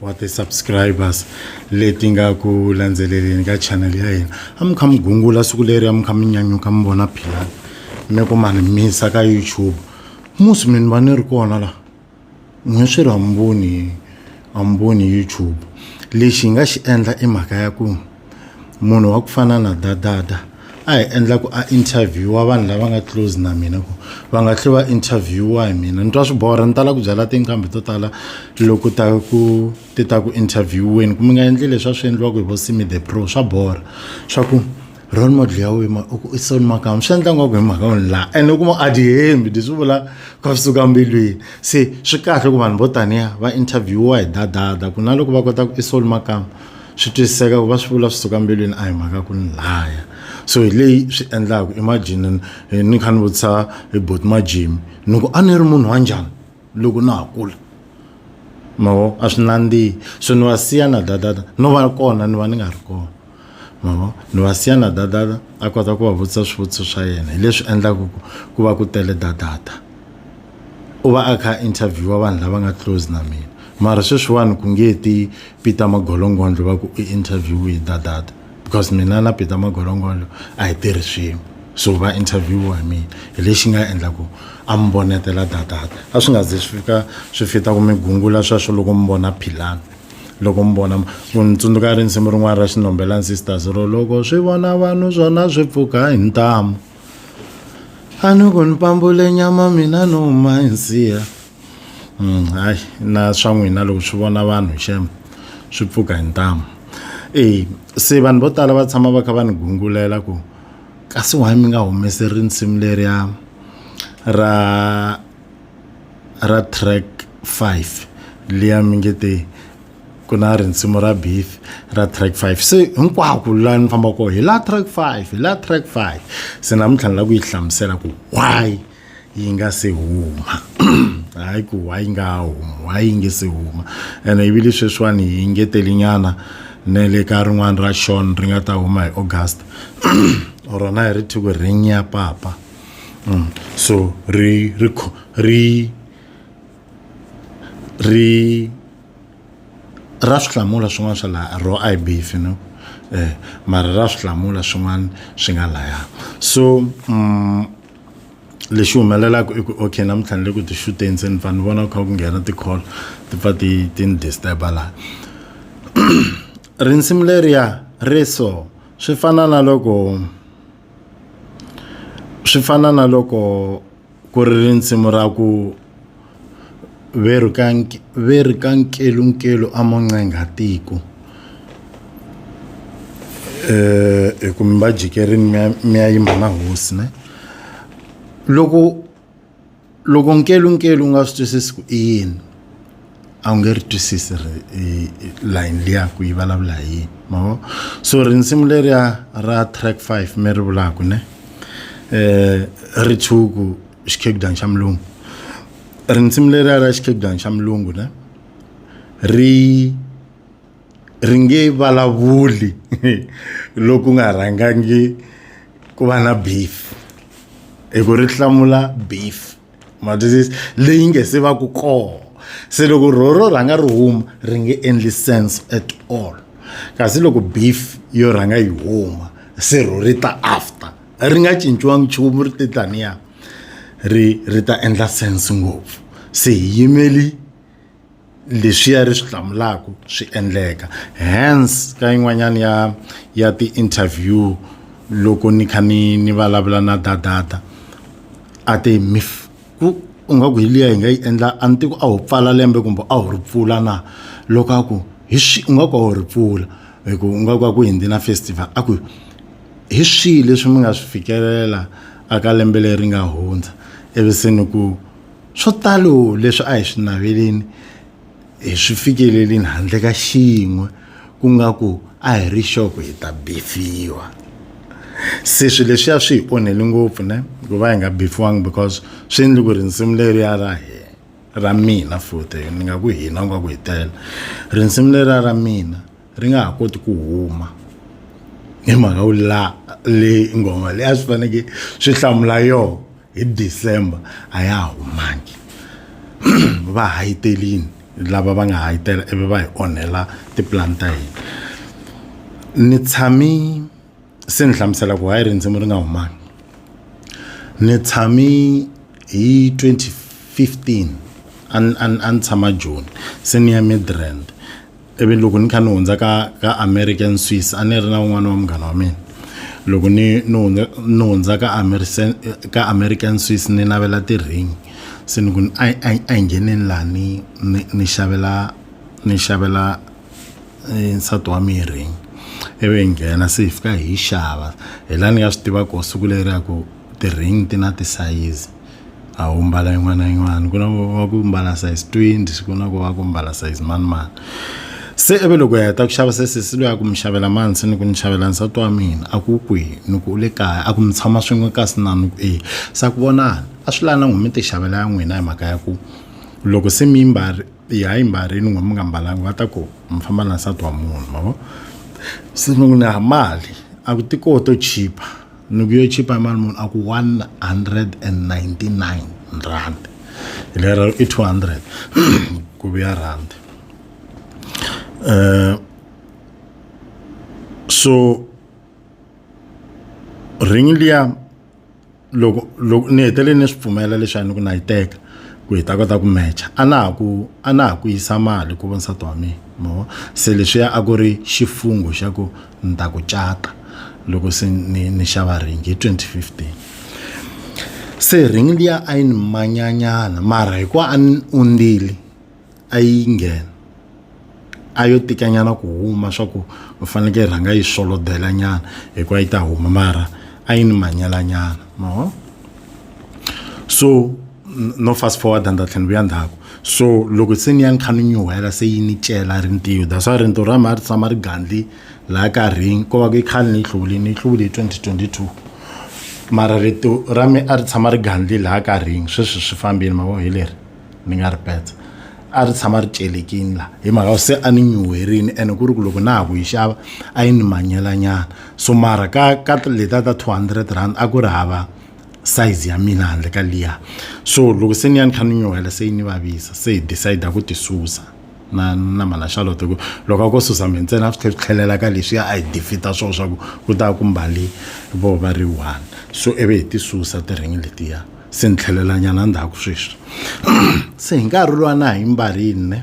wa ti-subscribers leti nga ku landzeleleni ka channel ya hina a mi kha mi gungula siku leri a mi kha mi nyanyuka mi vona philani mi ku mani misa ka youtube musi mi ni va ni ri kona laha n'we swi ri hamboni hamboni youtube lexi hi nga xi endla i mhaka ya ku munhu wa ku fana na dadada a hi endla ku a interviewa vanhu lava nga close na mina ku va nga tlhe va interviewa hi mina ni twa swi borha ni tala ku byala tinqambi to tala loko ta ku ti ta ku intervieweni ku mi nga endli leswi a swi endliwaka hi vo simi the pro swa borha swa ku role model ya wena u ku i soni makama swi endla ngaku hi mhaka wena laha ene u kuma a ti hembi leswi swi vula ka swi suka mbilwini se swi kahle ku vanhu vo taniya va interviewiwa hi dadada ku na loko va kota ku i soni makama swi twisiseka ku va swi vula swi suka mbilwini a hi mhaka ku ni laya so hi leyi swi endlaku imagine eh, ni kha ni vutisa hi bot majimi ni ku a ni ri munhu wa njhani loko na ha kula mavo a swi nandzihi so ni va siya na dadada no va kona ni va ni nga ri kona mavo ni va siya na dadada a kota ku va vutisa swivutiso swa yena hi leswi endlaku ku va ku tele dadada u va a kha interviewa vanhu lava nga close na mina mara sweswiwani ku nge ti peter magolongondlo va ku i interview hi dadata because mina na peter magolongondlo a hi tirhi swin'we so va interviewa hi mina hi lexi nga endla ku a mi vonetela dadata a swi nga ze swi fika swi fita ku mi gungula sweswo loko mi vona philana loko mi vona ni tsundzuka rinsimu rin'wana ra xinombelani sisters ro loko swi vona vanhu swona swi pfuka hi ntamu a ni ku ni pambule nyama mina no huma hi nsiya Mm, hayi na swa n'wina loko swi vona vanhu xem swi pfuka hi ntamu e se vanhu vo tala va tshama va kha va ni gungulela ku kasi wahi mi nga humesi risimu leriya ra ra track five liya mi nge te ku na rinsimu ra beef ra track five se hinkwako laha ni fambaka kona hi la track five hi la track five se namuntlha ni lava ku yi hlamusela ku why yi nga se huma hayi ku why yi nga huma why yi nge se huma ene yi vile sweswiwani yi ngetelinyana ne le ka rin'wana ra shon ri nga ta huma hi august rona hi ri thiko ring ya papa mm. so ri ri ri ri ra swi hlamula swin'wana swa laha ro i beef you know eh mara ra swi hlamula swin'wana swi nga laya so mm, lexi humelelaka i ku okay namuntlha ni le ku ti xuteni se ni pfa ni vona ku kha ku nghena ti-call ti pfa ti ti ni disturba laha rinsimu leriya ri so swi fana na loko swi fana na loko ku ri risimu ra ku ve ri ka ve ri ka nkelunkelu a mo ncenga tiko hi ku mi va jikerini mi ya mi ya yimba na hosi ne loko loko nkelunkelu u nga swi twisisi ku i yini a wu nge ri twisisi ri layini liya ku yi vulavula hi yini ma vo so rinsimu leriya ra track five mi ri vulaka ne um ri tshuku xikhegudani xa mulungu rinsimu leriya ra xikhegudani xa mulungu ne ri ri nge vulavuli loku nga rhangangi ku va na beef hi ku ri hlamula beef ma twisisa leyi nge se va ku kona se loko ro ro rhanga ri huma ri nge endli sense at all kasi loko beef yo rhanga yi huma se ro ri ta after ri nga cinciwangi nchumu ri te taniya ri ri ta endla sense ngopfu se hi yimeli. leswiya ri swi hlamulaka swi endleka hence ka yin'wanyana ya ya ti-interview loko ni kha ni ni vulavula na dadada a te mif ku u nga ku hi liya hi nga yi endla a ni tiku a wu pfala lembe kumbe a wu ri pfula na loko a ku hi swi u nga ku a wu ri pfula hi ku u nga ku a ku hundzi na festival a ku hi swihi leswi mi nga swi fikelela aka lembe leri nga hundza ivi se ni ku Swo talo leswi a hi swi naveleni hi swi fikelelini handle ka xin'we ku nga ku a hi ri xoko hi ta befiwa se swilo leswiya swi hi onhele ngopfu ne ku va hi nga befiwangi because swi endle ku ri nsimu leriya ra hina ra mina futhi ni nga ku hina u nga ku hi tele risimu leriya ra mina ri nga ha koti ku huma hi mhaka ku la le nghoma leyi a swi fanekele swi hlamula yona. hi December a ya ha humangi va hayitelini lava va nga hayitela ivi va hi onhela tipulani ta hina ni tshami se ni hlamusela ku hayi rindzimi ri nga humangi ni tshami hi 2015 a ni tshama joni se ni ya midrand ivi loko ni kha ni hundza ka ka american swiss a ni ri na un'wana wa munghana wa mina loko ni ni hundza ni hundza ka american ka american swiss ni navela ti-ring se ni ku ni a a a hi ngheneni laha ni ni ni xavela ni xavela eh, nsati wa mina ring ivi hi nghena se hi fika hi yi xava hi laha ni nga swi tivaka siku leri ya ku ti-ring ti na tisayizi a wu mbala yin'wana na yin'wana ku na wa ku mbala size 20 ku na ku wa ku mbala size mani mani se ivi loko hi heta ku xava se sesi loyi a ku mi xavela mani se ni ku ni xavela nsati wa mina a ku kwihi ni ku u le kaya a ku mi tshama swin'we kasi na ni ku e sa ku vonani a swi lani na n'wi mi ti xavela ya n'wina hi mhaka ya ku loko se mi yi mbari yi ha yi mbarini n'we mi nga mbalanga va ta ku mi famba na nsati wa munhu ma vo se ni ku na mali a ku ti koho to chipa. ni ku yo chipa hi mali muni a ku 199 rand lero i 200 ku vuya rand um so ringi liya loko loko ni hetelele ni swi pfumela leswaku ni ku na yi teka ku hi ta kota ku matcha a na ha ku a na ha ku yisa mali ku vona nsati wa mina mo se leswiya a ku ri xifungho xa ku ni ta ku cata loko se ni ni xava ringi hi 2015 se ringi liya a yi ni manyanyana mara hikuva a ni ondzile a yi nghena a yo tikanyana ku huma swa ku u fanekele rhanga yi swolodela nyana hikuva yi ta huma mara a yi ni manyelanyana ma vona so no fast forward and tlhela ni vuya ndzhaku so loko se ni ya ni kha ni nyuhela se yi ni cela rintiyo that's why rintiyo ra mhani ri tshama ri gandli laha karhini ko va ku yi khale ni yi hluvule ni yi hluvule hi 2022 mara rito ra mi a ri tshama ri gandli laha karhini sweswi swi fambile mavo hi leri ni nga ri petsa a ri tshama ri celekini laha hi mhaka se a ni nyuherini ene ku ri ku loko na ha ku yi xava a yi ni manyelanyana so mara ka ka leta ta 200 rand a ku ri hava size ya mina handle ka liya so loko se ni ya ni kha ni nyuhela se yi ni vavisa se hi decide ku ti susa na na mhana charlotte ku loko a ko susa mi ntsena a swi tlhe swi tlhelela ka leswi a hi defita swona swa ku ku ta ku mbali vo va ri one so ivi hi ti susa tiringi letiya se ni tlhelelanyana ndzhaku sweswi se hi nkarhi lowa na ha yi mbarile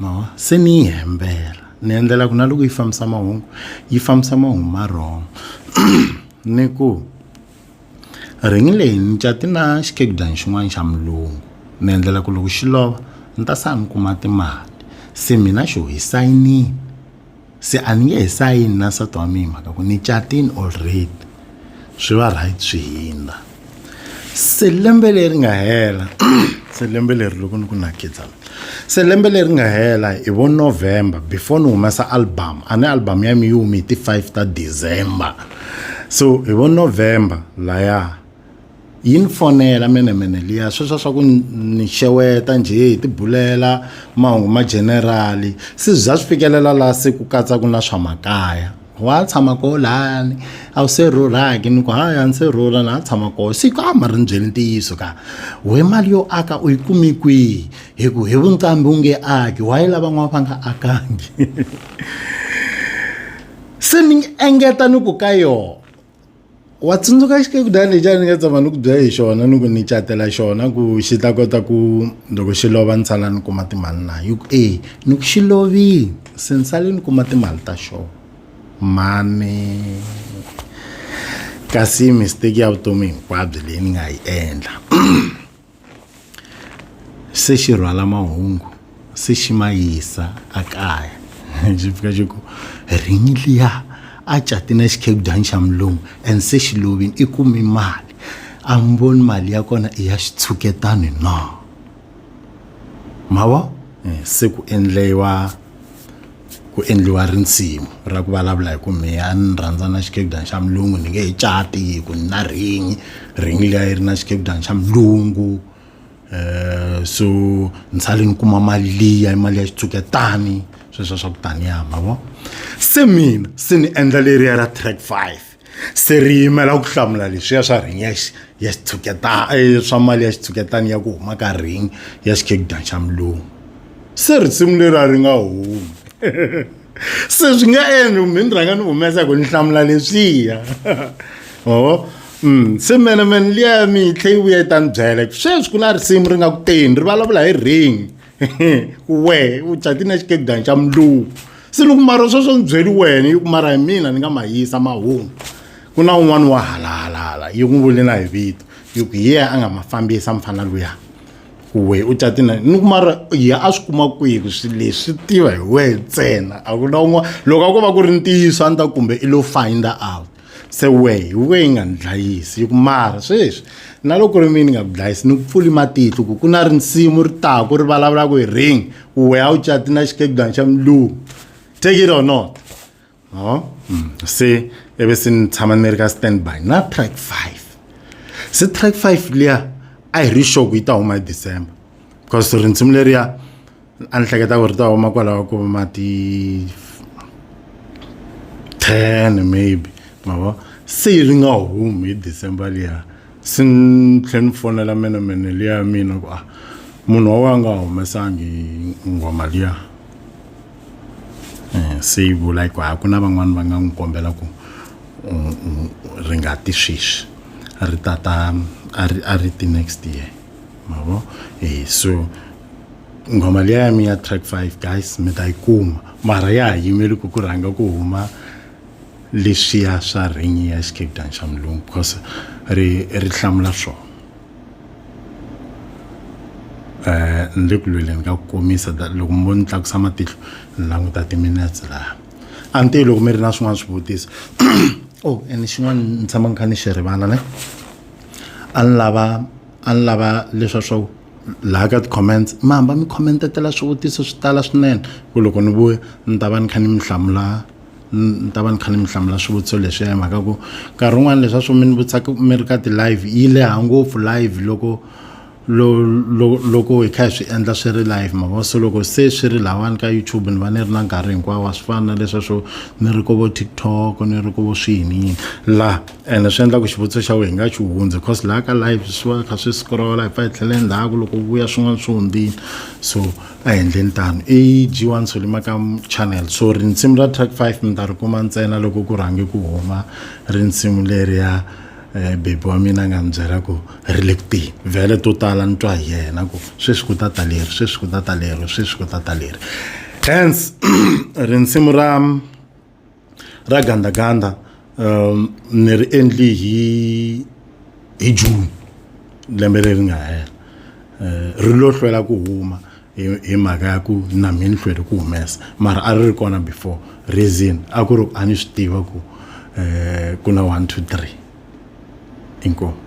ma se ni yi hembela ni endlela ku na loko yi fambisa mahungu yi fambisa mahungu ma wrong ni ku ringi leyi ni cati na xikegudani xin'wana xa mulungu ni endlela ku loko xi lova ni ta sala ni kuma timali se mina xo hi sayinile se a ni nge he sayini na nsati wa mina mhaka ku ni catini already swi va right swi hindza se lembe leri nga hela se lembe leri loko ni ku na khidzana se lembe leri nga hela hi vo november before ni humesa album a ni album ya mi yi humi hi ti-five ta december so hi vo november laya yi ni fonela menemene liya sweswa swa ku ni xeweta njhe hi tibulela mahungu ma generali se za swi fikelela laha se ku katsa ku na swa makaya wa tshama koho lani a wu se rhurhaki ni ku haya ni se rhurha na ha tshama koho se ka ma ri ni byeli ntiyiso ka we mali yo aka u yi kumi kwihi hi ku hi vunqambi wu nge aki wa yi lavan'wana va nga akangi se ni engeta ni ku ka yona wa tsundzuka xikudana lexi a ni nga tshama ni ku byela hi xona ni ku ni catela xona ku xi ta kota ku loko xi lova ni sala ni kuma timali na hi ku e ni ku xi lovile se ni sale ni kuma timali ta xona mani kasi mistake ya vutomi hinkwabyo leyi ni nga yi endla se xi rhwala mahungu se xi ma yisa ekaya xi fika xi ku rinyi liya a cati na xikhegudani xa mulungu and se xi lovini i kumi mali a mi voni mali ya kona i ya xitshuketani na ma vo se ku endliwa ku endliwa risimu ra ku vulavula hi ku mehe a ni rhandza na xikegudani xa mulungu ni nge he cati hi ku ni na ringi ringi liya yi ri na xikegudani xa mulungu um so ni sale ni kuma mali liya i mali ya xitshuketani sweswiya swa ku taniya ma vo se mina se ni endla leriya ra track five se ri yimela ku hlamula leswiya swa ring ya ya xitshuketana eh, swa mali ya xitshuketana ya ku huma ka ring ya xikegdan xa mulungu se risimu leri a ri nga humi se swi nga endli kumbe ni rhanga ni humesa hi ku ni hlamula leswiya oo Mm, se mene mene liya mi yi tlhe yi vuya yi ta ni byela sweswi ku na risimu ri nga ku teni ri vulavula hi ring wehe u cati na xikegani xa muluvu se ni ku mara sweswo ni byeli wena yi ku mara hi mina ni nga ma yisa mahungu ku na un'wana wa halahalala yi n'wi vule na hi vito yi ku hi yena a nga ma fambisa mfana luya ku wehe u cati na ni ku mara ya a swi kuma kwihi ku swilo leswi swi tiva hi wehe ntsena a ku na un'wana loko a ko va ku ri ntiyiso a ni ta kumbe i lo finder out se wehe wu ve yi nga ni dlayisi yi ku mara sweswi na loko ku ri mina ni nga ku dlayisi ni ku pfuli matihlo ku ku na rinsimu ri taku ri vulavula ku hi ring ku wehe a wu cati na xikegudana xa mulungu take it or not no mm. se ebe se ni tshama ni ri ka stand by na track five se track five liya a hi ri sure ku yi ta huma hi december because rinsimu leriya a ni hleketa ku ri ta huma kwalaho ku ma ti ten maybe ma vo se ri nga humi hi december liya se ni tlhela ni fonela menemene liya ya mina ku a ah, munhu wa wa nga humesangi nghoma liya um se yi vula ku a ku na van'wani va nga n'wi kombela ku ri nga ti sweswi ri tata a ri a ri ti next year ma vo e so nghoma leya ya mi ya track 5 guys mi ta yi kuma mara ya ha yimeli ku ku rhanga ku huma leswiya swa ringi ya xicape down xa mulungu because ri ri hlamula swona eh ni le ku lweleni ka ku komisa da- loko mi vo ni tlakusa matihlo ni languta timinetse laha a ni tivi loko mi ri na swin'wana swivutiso oh and xin'wana ni tshama ni kha ni xi rivala ne a ni lava a ni lava leswa swa ku laha ka ti-comments mi hamba mi comment-etela swivutiso swi tala swinene ku loko ni vuya ni ta va ni kha ni mi hlamula ni ta va ni kha ni mi hlamula swivutiso leswiya hi mhaka ku nkarhi wun'wani leswa swo mi ni vutisaka mi ri ka ti-live yi leha ngopfu live loko loko hi kha hi swi endla swi ri live ma vo so loko se swi ri lahawani ka youtube ni va ni ri na nkarhi hinkwawo a swi fani na leswa swo ni ri ko vo TikTok ni ri ko vo swihi ni yini laha ene swi endla ku xivutiso xa wena hi nga xi hundzi because laha ka live swi va kha swi scrolla hi pfa hi tlhela endzhaku loko vuya swin'wana swi hundzile so a hi endleni tano i g one solima ka channel so rinsimu ra track five mi ta ri kuma ntsena loko ku rhange ku huma rinsimu leriya um bebi wa mina a nga mi byela ku ri le kuteni vhele to tala ni twa hi yena ku sweswi ku ta ta leri sweswi ku ta ta leri sweswi ku ta ta leri hence rinsimu ra ra gandaganda um ni ri endli hi hi june lembe leri nga hela um ri lo hlwela ku huma hi mhaka ya ku na mi ni hlwele ku humesa mara a ri ri kona before reason a ku ri a ni swi tiva ku um ku na one two three inkomu